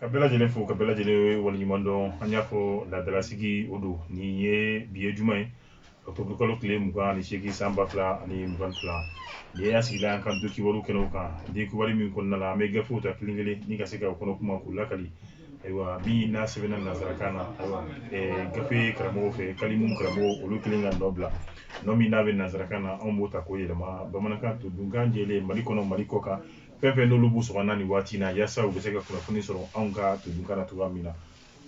ka bɛɛ lajɛlen fo ka bɛɛ lajɛlen waleɲuman dɔn an y'a fɔ laadalasigi o don nin ye bi ye juma ye octobre kalo tile mugan ani seegin san ba fila ani mugan ni fila nin ye an sigila an ka don kibaru kɛnɛw kan don kibaru min kɔnɔna la an bɛ gafew ta kelen kelen ni ka se ka o kɔnɔ kuma k'u lakali ayiwa min n'a sɛbɛnna nanzarakan na ayiwa ɛɛ gafe karamɔgɔw fɛ kalimu karamɔgɔ olu kelen ka nɔ bila nɔ min n'a bɛ nanzarakan na anw b'o ta k'o yɛlɛma bamanankan todunkan jɛlen mali kɔnɔ mali kɔkan fɛn fɛn n'olu b'u sɔgɔnna nin waati in na yasa u bɛ se ka kunnafoni sɔrɔ anw ka todunkan na cogoya min na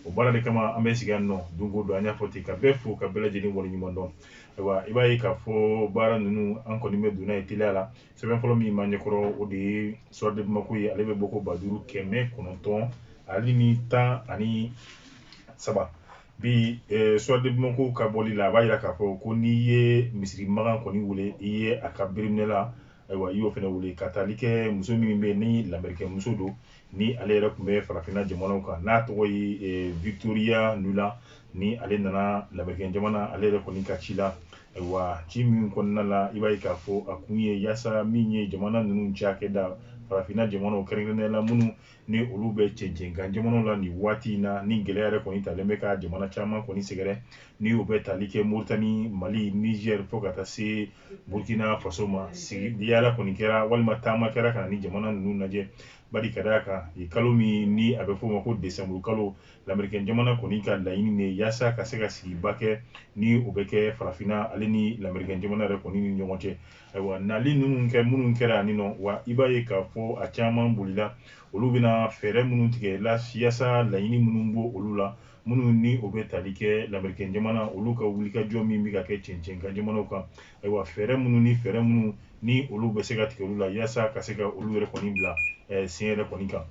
o baara de kama an bɛ sigi yan nɔ don o don an y'a fɔ ten ka bɛɛ fo ka bɛɛ lajɛlen waleɲuman dɔn ayiwa i b'a ye k'a fɔ baara ninnu an kɔni bɛ donna ye teliya la sɛbɛn fɔlɔ min b'an ɲɛkɔrɔ o de ye soir de bamako ye ale bɛ bɔko ba duuru kɛmɛ kɔnɔntɔn ale ni tan ani saba bi eh, soir de bamako ka bɔli la a b'a jira k'a fɔ ko n'i ye misiri magan kɔni wele i ye a ka biriminɛ la ayiwa i y'o fana wele ka taali kɛ muso min bɛ yen ni lamerikɛn muso don ni ale yɛrɛ tun bɛ farafinna jamanaw kan n'a tɔgɔ ye eh, victoria nuland ni ale nana lamerikɛn jamana ale yɛrɛ kɔni ka ci la ayiwa ci min kɔnɔna la i b'a ye k'a fɔ a kun ye yaasa min ye jamana ninnu cakɛda farafinna jamanaw kɛrɛnkɛrɛnnenya la minnu ni olu bɛ cɛncɛnkan jamanaw la nin waati in na ni gɛlɛya yɛrɛ kɔni talen bɛ ka jamana caman kɔni sɛgɛrɛ ni o bɛ tali kɛ moritani mali niger fo ka taa se burkina faso ma sigi yaala kɔni kɛra walima taama kɛra ka na ni jamana ninnu lajɛ bari ka d'a kan kalo min ni a bɛ f'o ma ko desanburu kalo lamerikɛn jamana kɔni ka laɲini de yaasa ka se ka sigiba kɛ ni o bɛ kɛ farafinna ale ni lamerikɛn jamana yɛrɛ kɔni ni ɲɔgɔn cɛ Ayiwa nali ninnu kɛ minnu kɛra ani nɔ wa i b'a ye k'a fɔ a caman bolila olu bɛna fɛɛrɛ minnu tigɛ la yaasa laɲini minnu bɛ olu la minnu ni o bɛ tali kɛ lamerikɛn jamana olu ka wulikajɔ min bɛ ka kɛ cɛncɛnkan jamanaw kan ayiwa fɛɛrɛ minnu ni fɛɛrɛ minnu ni olu bɛ se ka tigɛ olu la yasa ka se ka olu yɛrɛ kɔni bila eh, sen yɛrɛ kɔni kan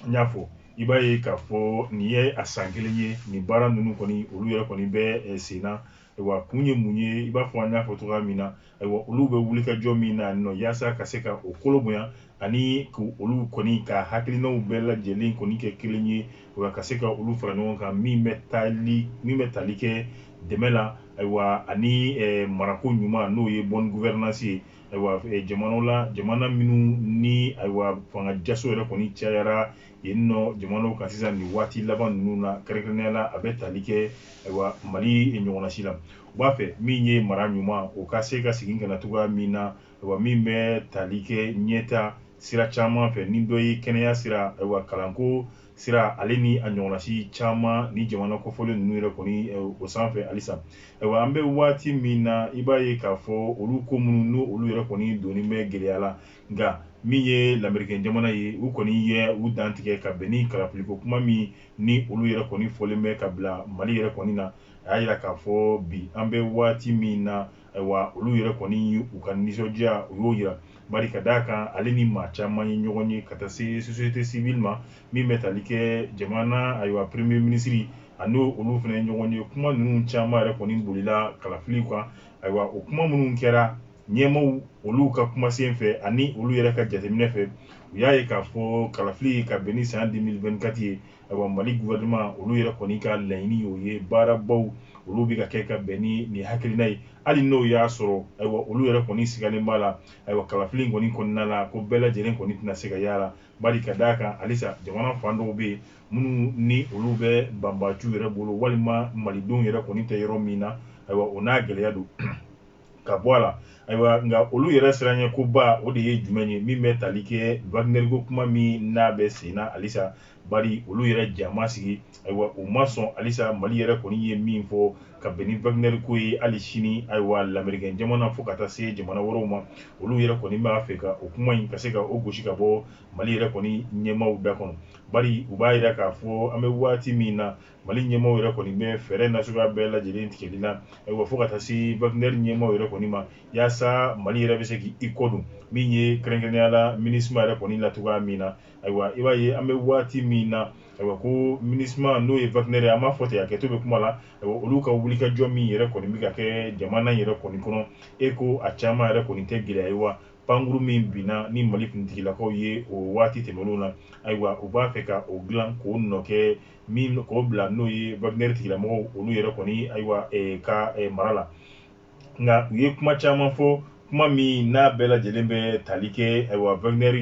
n y'a fɔ i b'a ye k'a fɔ nin ye a san kelen ye nin baara ninnu kɔni olu yɛrɛ kɔni bɛ eh, sen na ayiwa kun ye mun ye i b'a fɔ an y'a fɔ cogoya min na ayiwa olu bɛ wulikajɔ min na nɔ yaasa ka se ka o kolo bonya ani k'olu kɔni ka hakilinaw bɛɛ lajɛlen kɔni kɛ kelen ye wa ka se ka olu fara ɲɔgɔn kan min bɛ tali min bɛ tali kɛ dɛmɛ la ayiwa ani eh, marako ɲuman n'o ye bonne gouvernance ye ayiwa jamanaw la jamana minnu ni ayiwa fanga jaso yɛrɛ kɔni cayara yen nɔ jamanaw kan sisan nin waati laban ninnu na kɛrɛnkɛrɛnnenya la a bɛ tali kɛ ayiwa mali ɲɔgɔnnasi la u b'a fɛ min ye mara ɲuman o ka se ka segin ka na cogoya min na ayiwa min bɛ tali kɛ ɲɛtaa sira caman fɛ ni dɔ ye kɛnɛya sira ayiwa kalanko sira ale ni a ɲɔgɔnasi caman ni jamana kɔfɔlen ninnu yɛrɛ kɔni o sanfɛ halisa ayiwa an bɛ waati min na i b'a ye k'a fɔ olu ko minnu n'o olu yɛrɛ kɔni donni bɛ gɛlɛya la nka min ye lamerikɛn jamana ye u kɔni ye u dantigɛ ka bɛn ni kalafiliko kuma min ni olu yɛrɛ kɔni fɔlen bɛ ka bila mali yɛrɛ kɔni na a y'a jira k'a fɔ bi an bɛ waati min na Ayiwa olu yɛrɛ kɔni u ka nisɔndiya u y'o jira bari ka d'a kan ale ni maa caman ye ɲɔgɔn ye ka taa se société civile ma min bɛ tali kɛ jamana ayiwa premier ministre ani olu fana ye ɲɔgɔn ye kuma ninnu caman yɛrɛ kɔni bolila kalafili kan ayiwa o kuma minnu kɛra ɲɛmaaw olu ka kumasen fɛ ani olu yɛrɛ ka jateminɛ fɛ u y'a ye k'a fɔ kalafili ka bɛn ni san 2024 ye ayiwa mali gouvernement olu yɛrɛ kɔni ka laɲini y'o ye baarabaw olu bɛ ka kɛ ka bɛn ni nin hakilina ye hali n'o y'a sɔrɔ ayiwa olu yɛrɛ kɔni sigalen b'a la ayiwa kalafili in kɔni kɔnɔna la ko bɛɛ lajɛlen kɔni tɛna se ka y'a la bari ka d'a kan halisa jamana fan dɔw bɛ yen minnu ni olu bɛ banbaanciw yɛrɛ bolo walima malidenw yɛrɛ kɔni tɛ yɔrɔ min na ayiwa o n'a gɛlɛya don ka bɔ a la ayiwa nka olu yɛrɛ siranɲɛ ko ba o de ye jumɛn ye min bɛ tali kɛ wagner ko kuma min n'a bɛ sen na halisa bari olu yɛrɛ ja ma sigi ayiwa u ma sɔn halisa mali yɛrɛ kɔni ye min fɔ ka bɛn ni wagner ko ye hali sini ayiwa lamerikɛn jamana fo ka taa se jamana wɛrɛw ma olu yɛrɛ kɔni b'a fɛ ka o kuma in ka se ka o gosi ka bɔ mali yɛrɛ kɔni ɲɛmaaw da kɔnɔ bari u b'a jira k'a fɔ an bɛ waati min na mali ɲɛmaaw yɛrɛ kɔni bɛ fɛɛrɛ nasuguya bɛɛ lajɛlen tigɛli la ayiwa fo ka taa se wagner ɲɛmaaw yɛrɛ kɔni ma yaasa mali yɛrɛ bɛ se k'i kɔ don min ye kɛrɛnkɛrɛnnenya la minusma yɛrɛ kɔni la cogoya min na ayiwa i b'a ye an bɛ waati min na ayiwa ko minusma n'o ye wagner ye an b'a fɔ ten a kɛto bɛ kuma la ayiwa olu ka wulikajɔ min yɛrɛ kɔni bɛ ka kɛ jamana yɛrɛ kɔni kɔnɔ e ko a caman yɛrɛ kɔni tɛ gɛlɛya ye wa pankuru min binna ni mali kuntigilakaw ye o waati tɛmɛnenw na ayiwa u b'a fɛ ka o dilan k'o nɔ kɛ min k'o bila n'o ye wagner tigilamɔgɔw olu yɛrɛ kɔni ayiwa ka mara la nka u ye kuma caman fɔ kuma min n'a bɛɛ lajɛlen bɛ tali kɛ ayiwa wagner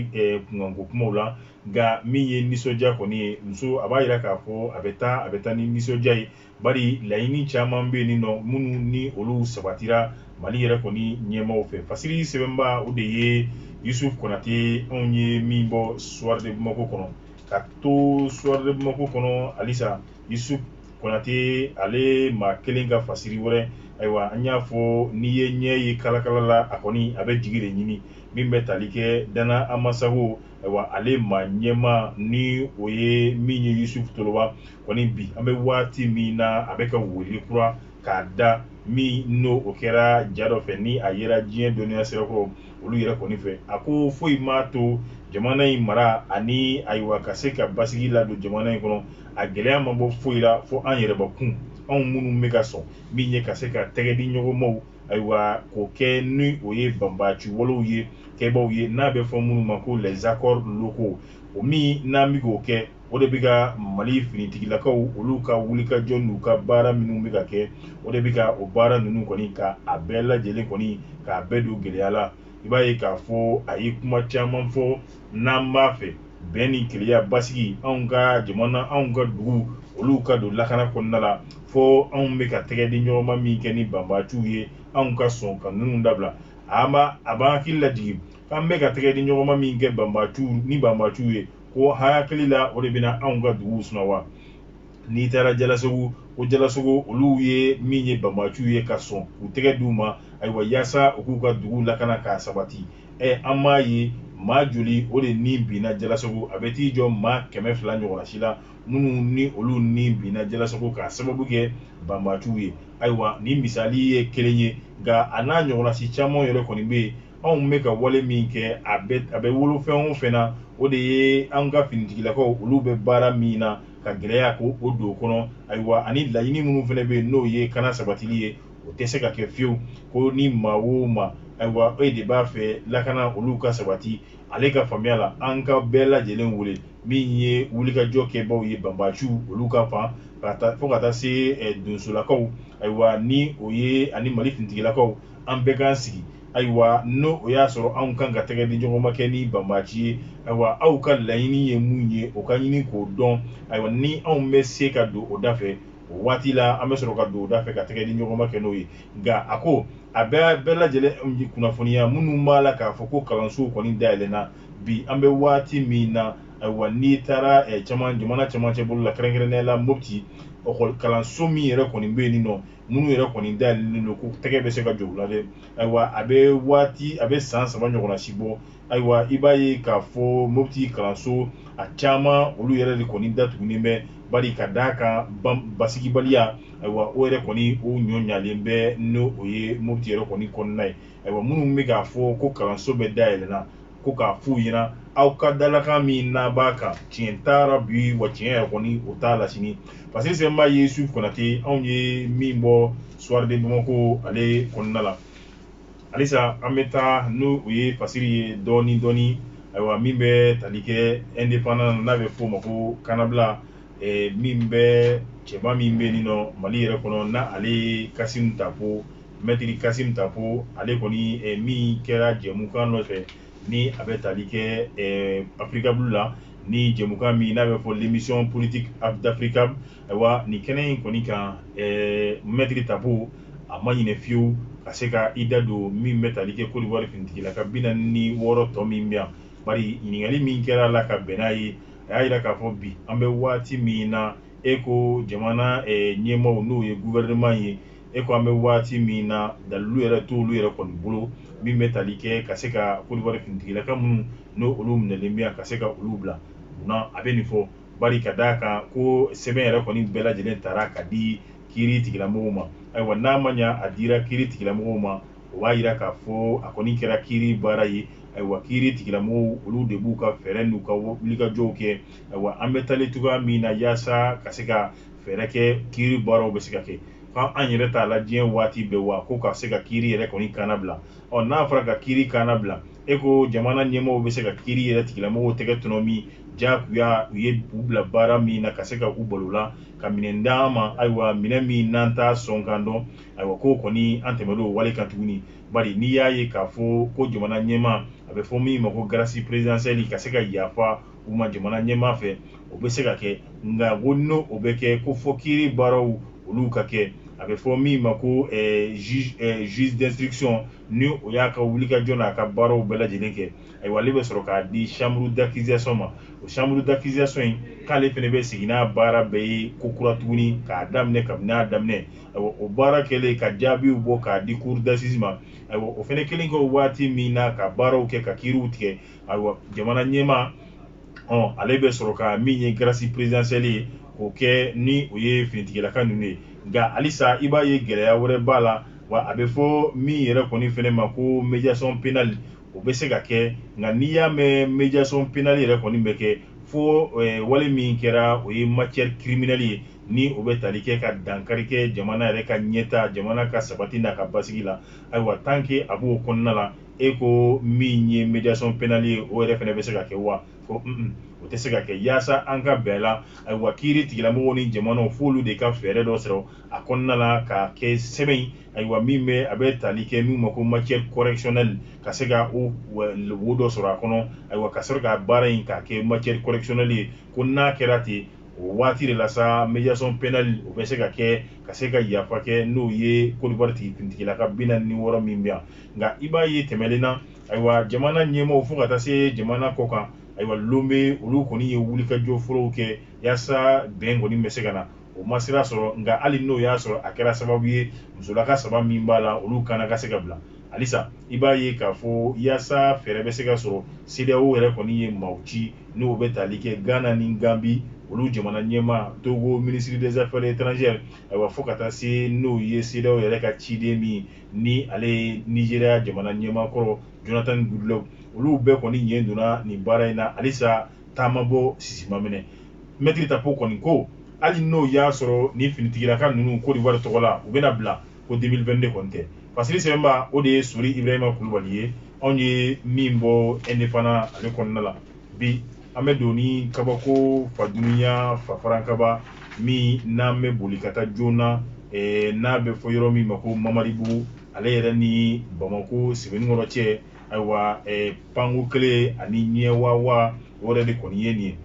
kunkanko kumaw la nka min ye nisɔndiya kɔni ye muso a b'a jira k'a fɔ a bɛ taa a bɛ taa ni nisɔndiya ye bari laɲini caman bɛ yen nin nɔ minnu ni olu sabatira mali yɛrɛ kɔni ɲɛmaaw fɛ fasiri sɛbɛnbaa o de ye yusuf konate anw ye min bɔ soir de bamako kɔnɔ ka to soir de bamako kɔnɔ halisa yusuf konate ale maa kelen ka fasiri wɛrɛ ayiwa an y'a fɔ n'i ye ɲɛ ye kalakala la a kɔni a bɛ jigi de ɲini min bɛ tali kɛ dana ambassagou ayiwa ale maa ɲɛmaa ni o ye min ye yusuf toloba kɔni bi an bɛ waati min na a bɛ ka wele kura k'a da min n'o o kɛra ja dɔ fɛ ni a yera diɲɛ dɔnniya sirakɔrɔ olu yɛrɛ kɔni fɛ a ko foyi m'a to jamana in mara ani ayiwa ka se ka basigi ladon jamana in kɔnɔ a gɛlɛya ma bɔ foyi la fo an yɛrɛbakun anw minnu bɛ ka sɔn min ye ka se ka tɛgɛ di ɲɔgɔnmaw ayiwa k'o kɛ ni o ye banbaaci walew ye kɛbaaw ye n'a bɛ fɔ minnu ma ko les accords locaux o min n'an bɛ k'o kɛ o de bɛ ka mali finitigilakaw olu ka wulikajɔ n'u ka baara minnu bɛ ka kɛ o de bɛ ka o baara ninnu kɔni ka a bɛɛ lajɛlen kɔni k'a bɛɛ don gɛlɛya la i b'a ye k'a fɔ a ye kuma caman fɔ n'an b'a fɛ bɛn ni kelenya basigi anw ka jamana anw ka dugu olu ka don lakana kɔnɔna la fo anw bɛ ka tɛgɛ di ɲɔgɔnma min kɛ ni banbaaciw ye anw ka sɔn ka ninnu dabila a b'an hakili lajigin k'an bɛ ka tɛgɛ di ɲɔgɔnma min kɛ banbaaciw ni banbaaciw ye ko hakili la o de bɛna anw ka duguw suma wa n'i taara jalasagu ko jalasagu olu ye min ye banbaaciw ye ka sɔn k'u tɛgɛ d'u ma ayiwa yaasa u k'u ka dugu lakana k'a sabati ɛ an m'a ye maa joli o de ni binna jalasagu a bɛ t'i jɔ maa kɛmɛ fila ɲɔgɔnna si la minnu ni olu ni binna jalasagu k'a sababu kɛ banbaaciw ye ayiwa nin misali ye kelen ye nka a n'a ɲɔgɔnna si caman yɛrɛ kɔni bɛ yen anw bɛ ka wale min kɛ a bɛ a bɛ wolo fɛn o fɛn na o de ye an ka finitigilakaw olu bɛ baara min na ka gɛlɛya ko o don kɔnɔ ayiwa ani laɲini minnu fana bɛ yen n'o ye kana sabatili ye o tɛ se ka kɛ fiyewu ko ni maa o maa ayiwa e de b'a fɛ lakana olu ka sabati ale ka faamuya la an ka bɛɛ lajɛlen wele min ye wulikajɔ kɛbaaw ye banbaaciw olu ka fan ka taa fo ka taa se eh, donsolakaw ayiwa ni o ye ani mali finitigilakaw an bɛɛ k'an sigi ayiwa n'o o y'a sɔrɔ anw kan ka tɛgɛ di ɲɔgɔn ma kɛ ni banbaaci ye ayiwa aw ka laɲini ye mun ye o ka ɲini k'o dɔn ayiwa ni anw bɛ se ka don o da fɛ o waati la an bɛ sɔrɔ ka don o da fɛ ka tɛgɛ di ɲɔgɔn ma kɛ n'o ye nka a ko a bɛɛ bɛɛ lajɛlen kunnafoniya minnu b'a la k'a fɔ ko kalansow kɔni dayɛlɛnna bi an bɛ waati min na ayiwa n'i taara eh, caman jamana cɛmancɛ bolo la kɛrɛnkɛrɛnnenya la mopti lakɔli kalanso min yɛrɛ kɔni bɛ yen nin nɔ minnu yɛrɛ kɔni dayɛlɛlen don ko tɛgɛ bɛ se ka jɔ u la dɛ ayiwa a bɛ waati a bɛ san saba ɲɔgɔnna si bɔ ayiwa i b'a ye k'a fɔ mopti kalanso a caman olu yɛrɛ de kɔni datugunen bɛ bari ka d'a kan basigibaliya ayiwa o yɛrɛ kɔni o ɲɔ ɲalen bɛ n'o o ye mopti yɛrɛ kɔni kɔnɔna ye ayiwa minnu bɛ k'a fɔ ko kalanso bɛɛ dayɛlɛnna ko k'a f'u ɲɛna aw ka dalakan min n'a b'a kan tiɲɛ t'a la bi wa tiɲɛ yɛrɛ kɔni o t'a la sini parce que sɛbɛnba ye yusuf konate anw ye min bɔ soir de bamako ale kɔnɔna la halisa an bɛ taa n'o o ye fasiri ye dɔɔni dɔɔni ayiwa min bɛ tali kɛ indépendant n'a bɛ f'o ma ko kanabila eh, min bɛ cɛba min bɛ nin nɔ mali yɛrɛ kɔnɔ na ale ye kasimu tapo mɛtiri kasimu tapo ale kɔni eh, min kɛra jɛmukan dɔ fɛ ni a bɛ tali kɛ eh, africable la ni jɛmukan min n'a bɛ fɔ l'émission politique d'africa ayiwa nin kɛnɛ in kɔni kan eh, mɛtiri tapo a ma ɲinɛ fiyewu ka se ka i da don min bɛ tali kɛ kodiwari finitigilaka bi naani ni wɔɔrɔ tɔ min bɛ yan bari ɲininkali min kɛra a la ka bɛn n'a ye a y'a jira k'a fɔ bi an bɛ waati min na e ko jamana ɲɛmaaw n'o ye gouvernement ye e ko an bɛ waati min na dalilu yɛrɛ t'olu yɛrɛ kɔni bolo min bɛ tali kɛ ka se ka kodiwari finitigilaka minnu n'o olu minɛlen bɛ yan ka se ka olu bila munna a bɛ nin fɔ bari ka d'a kan ko sɛbɛn yɛrɛ kɔni bɛɛ lajɛlen taara ka di kiiri tigilamɔgɔw ma ayiwa n'a ma ɲɛ a dira kiiri tigilamɔgɔw ma o b'a jira k'a fɔ a kɔni kɛra kiiri baara ye ayiwa kiiri tigilamɔgɔw olu de b'u ka fɛɛrɛ n'u ka wulikajɔw kɛ ayiwa an bɛ taalen cogoya min na yaasa ka se ka fɛɛrɛ kɛ kiiri baaraw bɛ se ka kɛ ko an yɛrɛ t'a la diɲɛ waati bɛɛ wa ko ka se ka kiiri yɛrɛ kɔni kannabila ɔ n'a fɔra ka kiiri kannabila e ko jamana ɲɛmaaw bɛ se ka kiiri yɛrɛ tigilamɔgɔw tɛgɛ tɔnɔmi jakuya u ye u bila baara min na ka se ka u balo la ka minɛn d'an ma ayiwa minɛn min n'an t'a sɔn kan dɔn ayiwa k'o kɔni an tɛmɛr'o wale kan tuguni bari n'i y'a ye k'a fɔ ko jamana ɲɛmaa a bɛ fɔ min ma ko grâce présidentielle ka se ka yafa u ma jamana ɲɛmaa fɛ o bɛ se ka kɛ nka ko n'o o bɛ kɛ ko fo kiiri baaraw olu ka kɛ a bɛ fɔ min ma ko juge d'instruction ni o y'a ka wulikajɔ n'a ka baaraw bɛɛ lajɛlen kɛ ayiwa ale bɛ sɔrɔ k'a di chambre d'accusation ma o chambre d'accusation in k'ale fɛnɛ bɛ segin n'a baara bɛɛ ye ko kura tuguni k'a daminɛ kabini a daminɛ o baara kɛlen ka jaabiw bɔ k'a di cour d'assises ma ayiwa o fɛnɛ kelen kɛ waati min na ka baaraw kɛ ka kiiriw tigɛ ayiwa jamana ɲɛmaa ɔ ale bɛ sɔrɔ ka min ye grâce présidentielle ye k'o kɛ ni o ye finitigilaka ninnu ye nka halisa i b'a ye gɛlɛya wɛrɛ b'a la wa a bɛ fɔ min yɛrɛ kɔni fɛnɛ ma ko médiation pénale o bɛ se ka kɛ nka n'i y'a mɛn médiation pénale yɛrɛ kɔni bɛ kɛ fo wale min kɛra o ye matière criminelle ye ni o bɛ tali kɛ ka dankari kɛ jamana yɛrɛ ka ɲɛta jamana ka sabati n'a ka basigi la ayiwa tant que a b'o kɔnɔna la e ko min ye médiation pénale ye o yɛrɛ fɛnɛ bɛ se ka kɛ wa ko un o tɛ se ka kɛ yaasa an ka bɛn la ayiwa kiiri tigilamɔgɔw ni jamanaw f'olu de ka fɛɛrɛ dɔ sɔrɔ a kɔnɔna la k'a kɛ sɛbɛn ayiwa min bɛ a bɛ tali kɛ min ma ko matière correctionnelle ka se ka o wo dɔ sɔrɔ a kɔnɔ ayiwa ka sɔrɔ ka baara in k'a kɛ matière correctionnelle ye ko n'a kɛra ten o waati de la sa médiation pénale o bɛ se ka kɛ ka se ka yafa kɛ n'o ye Côte d'Ivoire tigi finitigilaka bi naani ni wɔɔrɔ min bɛ yan nka i b'a ye tɛmɛlen na ayiwa jamana ɲɛmaaw fo ka taa se jamana kɔ kan ayiwa Lomé olu kɔni ye wulikajɔ fɔlɔw kɛ yaasa bɛn kɔni bɛ se ka na o ma sira sɔrɔ nka hali n'o y'a sɔrɔ a kɛra sababu ye musolaka saba min b'a la olu kana ka se ka bila halisa i b'a ye k'a fɔ yaasa fɛɛrɛ bɛ se ka sɔrɔ CEDEAO yɛrɛ kɔni ye maaw ci n'o bɛ tali kɛ Ghana ni Gambie olu jamana ɲɛmaa Togo ministre des affaires étrangères ayiwa fo ka taa se n'o ye CEDEAO yɛrɛ ka ciden min ni ale ye Nizeriya jamana ɲɛmaa kɔrɔ Jonathan Goodluck olu bɛɛ kɔni ɲɛ donna nin baara in na halisa ta ma bɔ sisi ma mɛnɛ mɛtiri tapo kɔni ko hali n'o y'a sɔrɔ nin finitigilaka ninnu Côte d'Ivoire tɔgɔ la u bɛna bila ko 2022 kɔni tɛ pasiri sɛbɛnbaa o de ye sori ibrahima kulubali ye anw ye min bɔ indépendant ale kɔnɔna la bi an bɛ don ni kabako fa duniɲa fafarankaba min n'an bɛ boli ka taa joona eh, n'a bɛ fɔ yɔrɔ min ma ko mamaribugu ale yɛrɛ ni bamako sebenikɔrɔ cɛ ayiwa eh, panko kelen ani ɲɛwawa o yɛrɛ de kɔni ye nin ye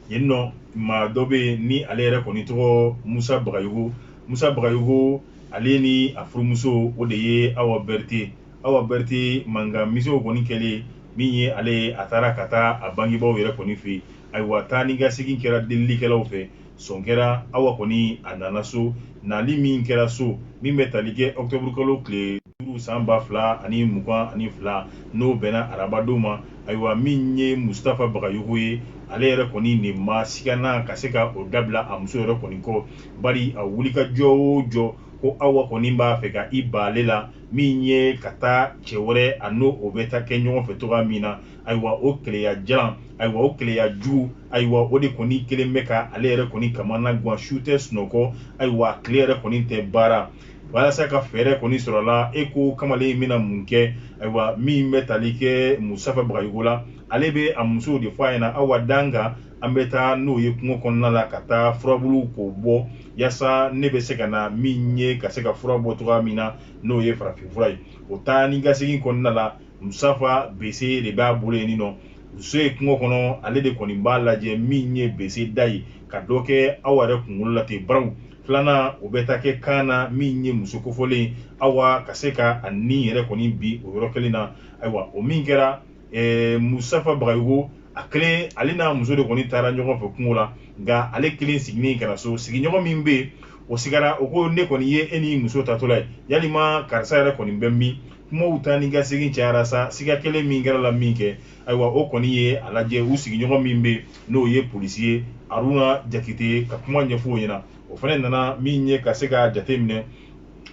yen nɔ maa dɔ bɛ yen ni ale yɛrɛ kɔni tɔgɔ musa bagayogo musa bagayogo ale ni a furumuso o de ye awa bɛrite awa bɛrite mankan misɛnw kɔni kɛlen min ye ale ye a taara ka taa a bangebaaw yɛrɛ kɔni fɛ yen ayiwa taa ni ka segin kɛra delilikɛlaw fɛ sɔn kɛra awa kɔni a nana so nali min kɛra so min bɛ tali kɛ ɔkutɔburukalo tile duuru san ba fila ani mugan ani fila n'o bɛnna arabadon ma ayiwa min ye mustafa bagayogo ye ale yɛrɛ kɔni nin ma siganna ka se ka o dabila a muso yɛrɛ kɔni kɔ bari a wulikajɔ o jɔ ko awa kɔni b'a fɛ ka i ban ale la min ye ka taa cɛ wɛrɛ a n'o o bɛ taa kɛ ɲɔgɔn fɛ cogoya min na ayiwa o keleya jalan ayiwa o keleya jugu ayiwa o de kɔni kɛlen bɛ ka ale yɛrɛ kɔni kamana gan su tɛ sunɔgɔ ayiwa tile yɛrɛ kɔni tɛ baara walasa ka fɛɛrɛ kɔni sɔrɔ la e ko kamalen in bɛna mun kɛ ayiwa min bɛ tali kɛ musafa bagayogo la ale bɛ a muso de fɔ a ɲɛna awa dan kan an bɛ taa n'o ye kungo kɔnɔna la ka taa furabulu k'o bɔ yaasa ne bɛ se ka na min ye ka se ka fura bɔ cogoya min na n'o ye farafinfura ye o taa ni ka segin kɔnɔna la musafa bese de b'a bolo yen nɔ muso ye kungo kɔnɔ ale de kɔni b'a lajɛ min ye bese da ye ka dɔ kɛ awa yɛrɛ kunkolo la ten baraw filanan o bɛ taa kɛ kan na min ye muso kofɔlen awa ka se ka a ni yɛrɛ kɔni bi o yɔrɔ kelen na ayiwa o min kɛra eh, musafa bagayogo a kelen ale n'a muso de kɔni taara ɲɔgɔn fɛ kungo la nka ale kelen seginnen ka na so sigiɲɔgɔn min bɛ yen o sigara o ko ne kɔni ye e ni muso taatɔla ye yalima karisa yɛrɛ kɔni bɛ min kumaw taa ni ka segin cayara sa siga kɛlen min kɛra la minkɛ ayiwa o kɔni ye a lajɛ u sigiɲɔgɔn min bɛ n'o ye polisi ye aruna jakite ka kuma ɲɛfɔ o ɲɛna o fana nana min ye ka se ka jate minɛ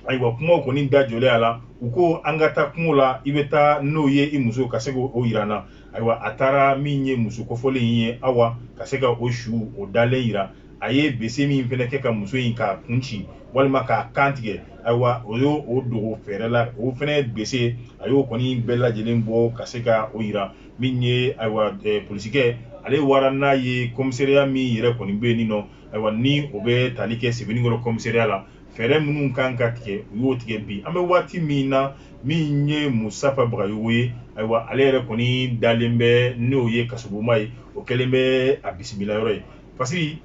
ayiwa kumaw kɔni da jɔlen a la u ko an ka taa kungo la i bɛ taa n'o ye i muso ka se k'o yira an na ayiwa a taara min ye muso kofɔlen in ye awa ka se ka o su o dalen yira a ye bese min fɛnɛ kɛ ka muso in k'a kun ci walima k'a kan tigɛ ayiwa o y'o o dogo fɛɛrɛ la o fɛnɛ bese a y'o kɔni bɛɛ lajɛlen bɔ ka se ka o yira min ye ayiwa polisikɛ ale wara n'a ye komisariya min yɛrɛ kɔni bɛ yen nin nɔ ayiwa ni o bɛ tali kɛ sebenikɔrɔ komisariya la fɛɛrɛ minnu kan ka tigɛ u y'o tigɛ bi an bɛ waati min na min ye musafa bagayogo ye ayiwa ale yɛrɛ kɔni dalen bɛ n'o ye kasobonba ye o kɛlen bɛ a bisimila yɔrɔ ye parce que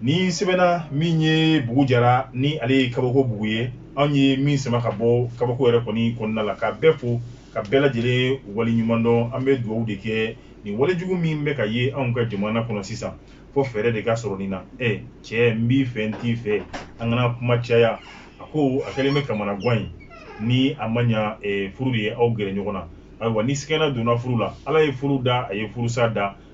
nin sɛbɛnna min ye bugu jara ni ale ye kabako bugu ye anw ye min sama ka bɔ kabako yɛrɛ kɔni kɔnɔna la ka bɛɛ fo ka bɛɛ lajɛlen waleɲuman dɔn an bɛ dugawu de kɛ nin walejugu min bɛ ka ye anw ka jamana kɔnɔ sisan fo fɛɛrɛ de ka sɔrɔ nin na e cɛ n b'i fɛ n t'i fɛ an kana kuma caya a ko a kɛlen bɛ kamanagan ye ni a ma ɲa furu de ye aw gɛrɛ ɲɔgɔn na ayiwa ni sigana donna furu la ala ye furu da a ye furusa da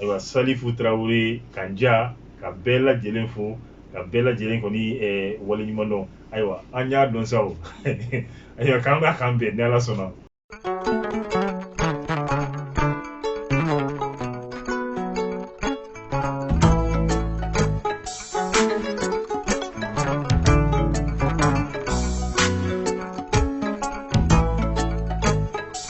ayiwa salifu tarawele ka ja ka bɛɛ lajɛlen fo ka bɛɛ lajɛlen kɔni eh, waleɲuman dɔn ayiwa an y'a dɔn sa o ayiwa k'an b'a k'an bɛn ni ala sɔnna